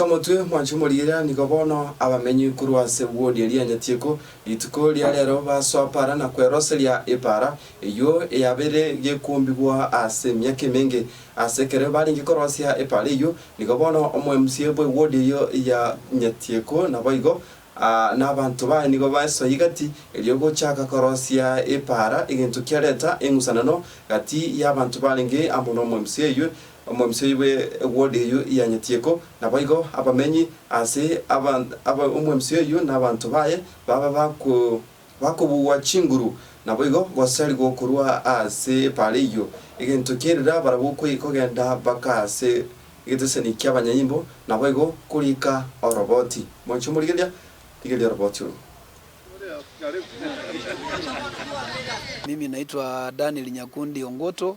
Kamotwe mwanche moriira, nigo bono abamenyi korwa ase wodi eria Nyatieko rituko ria reero basoa para na kweroseria epaara eyio eyabeire gekombigwa ase emiaka emenge. Ase ekero barenge korosia epaara eyio, nigo bono omoMCA bwe wodi eyio ya Nyatieko naboigo nabanto baye nigo baesoa egati erio gochaaka korosia epaara egento kiareta eng'usanano gati y'abanto barenge amo nomoMCA oyio Omobisa oibe egwodi eyio ianyetieko, naboigo abamenyi ase aba omobisa oyio na abanto baye babe bakobugwa chinguru, naboigo gosarigwo korwa ase epaara eyio. Egento kerire barabwo kogenda baka ase egetesani ki'abanyaimbo, naboigo koriika oroboti. Mwancha omorigeria? Rigeria oroboti orwo. Mimi naitwa Daniel Nyakundi Ongutu.